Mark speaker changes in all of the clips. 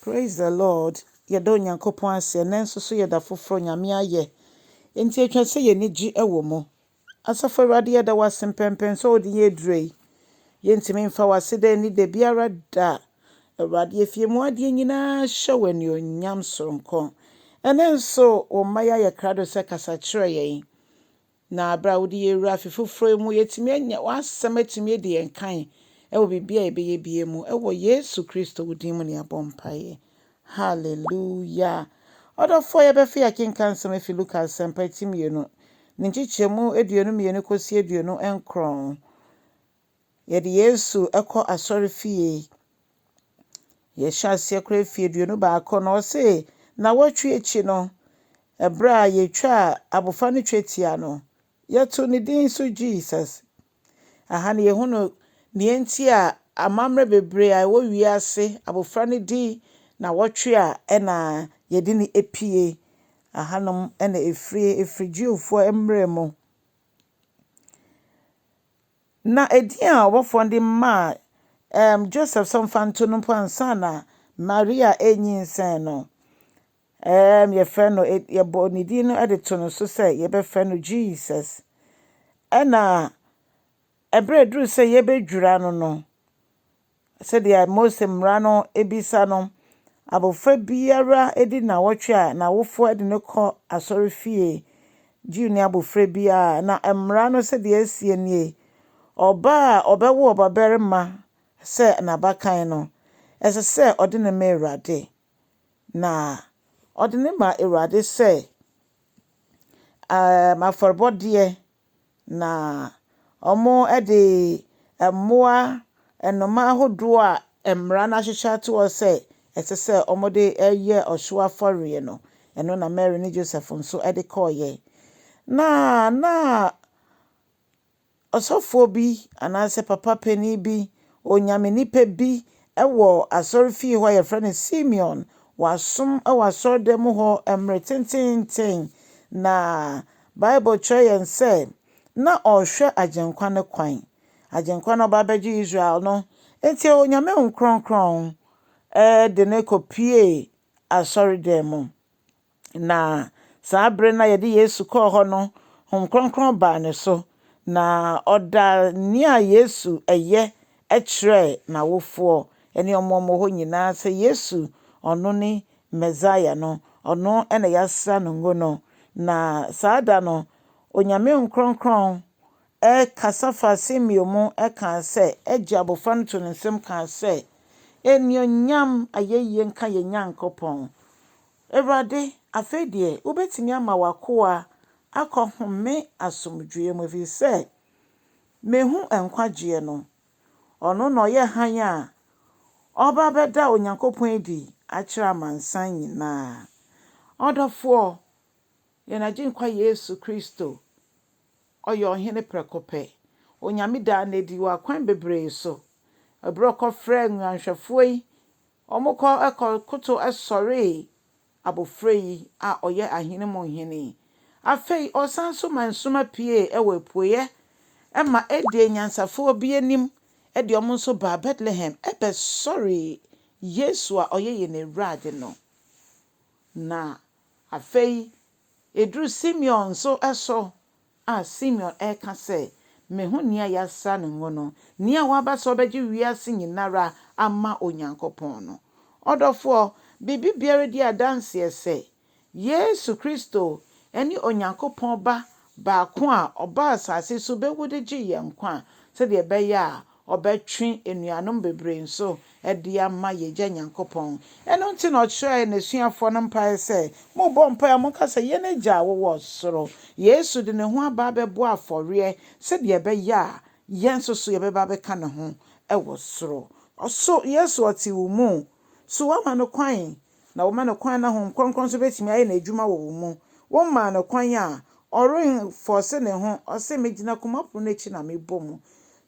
Speaker 1: Praise the Lord yɛda Onyankopɔn ase ɛnɛ nso so yɛda foforɔ Nyame ayɛ enti ɛtwa sɛ yɛni gye ɛwɔ mu Asafo Awurade yɛda wo ase mpɛmpɛn sɛ wode yɛn aduro yi yɛntumi mfa wase dɛ ni da biara da Awurade efie mu adeɛ nyinaa hyɛ wɔ anuonyam soronko ɛnɛ nso wo mma yɛayɛ krado sɛ kasa kyerɛ yɛn Na berɛ a wode yɛn wura afe foforɔ yi mu, yɛatumi anya w'asɛm atumi adi yɛn kan wɔ biribiara a yɛbɛyɛ biara mu. Wɔ Yesu Kristo wo din mu na yɛabɔ mpaeɛ. Hallelua. Ɔdɔfoɔ, yɛbɛfe akenkan nsɛm afi Luka Asɛmpa ti mmienu, ne nkyekyɛmu aduonu mmienu kɔsi aduonu nkron. Yɛde Yesu kɔ asɔrefie. Yɛhyɛ aseɛ koraa mfeɛ aduonu baako na ɔse nnawɔtwe akyi no, ɛberɛ a yɛtwaa abɔfra no twetia no, yɛtoo ne din nso Jesus. Aha no yɛhunu deɛ enti a amammerɛ bebree a ɛwɔ wiase, abɔfra no di nnawɔtwe a ɛna yɛde no apue. Ahanom na ɛfiri, ɛfiri Jewfoɔ mmerɛ mu. Ná edin a ɔbɔfo de maa um Joseph sɛ ɔmfa nto no mpo ansa na Maria renyinsɛn no, um yɛfrɛ no, yɛbɔ ne din no de to no so sɛ yɛbɛfrɛ no Jesus. Ɛna ɛberɛ a ɛduru sɛ yɛbɛdwira no no, Sɛdeɛ Mose Mmara no bisa no, abɔfra biara di nnawɔtwe a n'awofoɔ de no kɔ asɔrefie. Jew-ni abɔfra biara, na Mmara no sɛdeɛ ɛseɛ nie, ɔbaa a ɔbɛwo ɔbabarima sɛ n'abakan no, ɛsɛ sɛ ɔde no ma Awurade, na ɔde no ma Awurade sɛ afɔrebɔdeɛ Na wɔde mmoa, nnomaa ahodoɔ a mmara no ahyehyɛ ato hɔ sɛ ɛsɛ sɛ wɔde yɛ ɔhyew afɔreɛ no, ɛno na Mary ne Joseph nso de kɔeɛ. Na na ɔsɔfoɔ bi anaasɛ papa panin bi, onyame nipa bi wɔ asɔrefie hɔ a yɛfrɛ no Simeon. Wasom wɔ asɔredan mu hɔ mmerɛ tenteenten. Na Bible kyerɛ yɛn sɛ na ɔrehwɛ Agyenkwa no kwan. Agyenkwa no ba bɛgye Israel no, enti Onyame Honhom Kronkron de no kɔpuee asɔredan mu. Na saa bere no a yɛde Yesu kɔɔ hɔ no, Honhom Kronkron baa no so, na ɔdaa nea Yesu yɛ kyerɛɛ n'awofoɔ ne wɔn a wɔwɔ hɔ nyinaa sɛ Yesu, ɔno ne Mesaia no, ɔno na yɛasra no ngo no. Na saa da no, Onyame Nkorɔnkorɔn kasa faa Simeon mu kaa sɛ, Agya abɔfra no too ne nsam kaa sɛ, Anuonyam ayɛyie nka yɛn Nyankopɔn, Awurade, afei deɛ wobɛtumi ama w'akoa akɔhome asomdwoeɛ mu, ɛfiri sɛ Mehu nkwagyeɛ no. Ɔno na ɔyɛ hann a ɔreba bɛda Onyankopɔn adi akyerɛ amansan nyina ara. Ɔdɔfoɔ, yɛn Agyenkwa Yesu Kristo, Ɔyɛ Ɔhene prɛko pɛ. Onyame daa no adi wɔ akwan bebree so. Ɛberɛ a Ɔkɔfrɛɛ nguanhwɛfoɔ yi, wɔkɔ kɔkoto sɔree Abofra yi a ɔyɛ ahene mu hene. Afei ɔsan nso ma nsoma piee wɔ apueɛ ma ɛdee nyansafoɔ bi anim de wɔn nso baa Bethlehem bɛsɔree Yesu a ɔyɛ yɛn Awurade no. Na afei ɛduru Simeon nso so A Simeon reka sɛ, Me ho nea yɛasra no ngo no, nea waba sɛ ɔbɛgye wiase nyinara ama Onyankopɔn no. Ɔdɔfoɔ, biribi biara di adanseɛ sɛ, Yesu Kristo ne Onyankopɔn Ba baako a ɔbaa asase so bɛwu de gyee yɛn nkwa sɛdeɛ ɛbɛyɛ a ɔbɛtwe anuanom bebree nso de ama yɛn Agya Nyankopɔn. Ɛno nti na ɔkyerɛɛ n'asuafoɔ no mpaeɛ sɛ, Morebɔ mpaeɛ a, monka sɛ, Yɛn Agya a wowɔ soro. Yesu de ne ho aba abɛbɔ afɔreɛ sɛdeɛ ɛbɛyɛ a yɛn nso so yɛbɛba abɛka ne ho wɔ soro. So Yesu ɔte wo mu? So woama no kwan na wɔma no kwan na Honhom Kronkron nso bɛtumi ayɛ n'adwuma wɔ wo mu. Wo maa no kwan a, ɔrenfɔɔse ne ho, ɔse, megyina koma pono no akyi na mebɔ mu.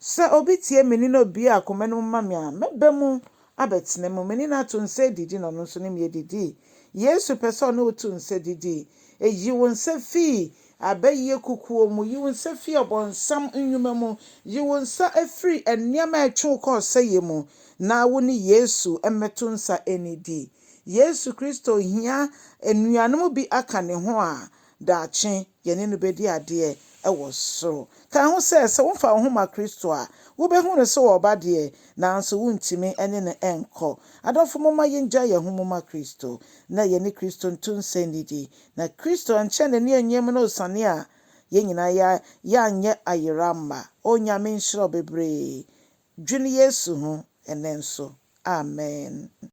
Speaker 1: Sɛ obi tie me nne na obue akoma no mu ma me a, mɛba mu abɛtena mu. Me ne no ato nsa adidi na ɔno nso ne me adidi. Yesu pɛ sɛ ɔne wo to nsa didi. Ɛyi wo nsa fii Abɛyɛ kukuo mu. Yi wo nsa firi ɔbonsam nnwuma mu. Yi wo nsa firi nneɛma a ɛtwe wo kɔ ɔsɛeɛ mu na wo ne Yesu mmɛto nsa nnidi. Yesu Kristo hia anuanom bi aka ne ho a daakye yɛne no bɛdi adeɛ wɔ soro. Ka ho sɛ, sɛ womfa wo ho ma Kristo a, wobɛhu no sɛ ɔreba deɛ, nanso wontumi ne no nkɔ. Adɔfo momma yɛngyae yɛn ho mu ma Kristo na yɛne Kristo nto nsa nnidi Na Kristo ankyɛ n'ani annyem no osiane a yɛn nyinaa yɛ a yɛannyɛ ayera amma. O Nyame nhyira wo bebree. Dwen Yesu ho ɛnnɛ nso. Amen.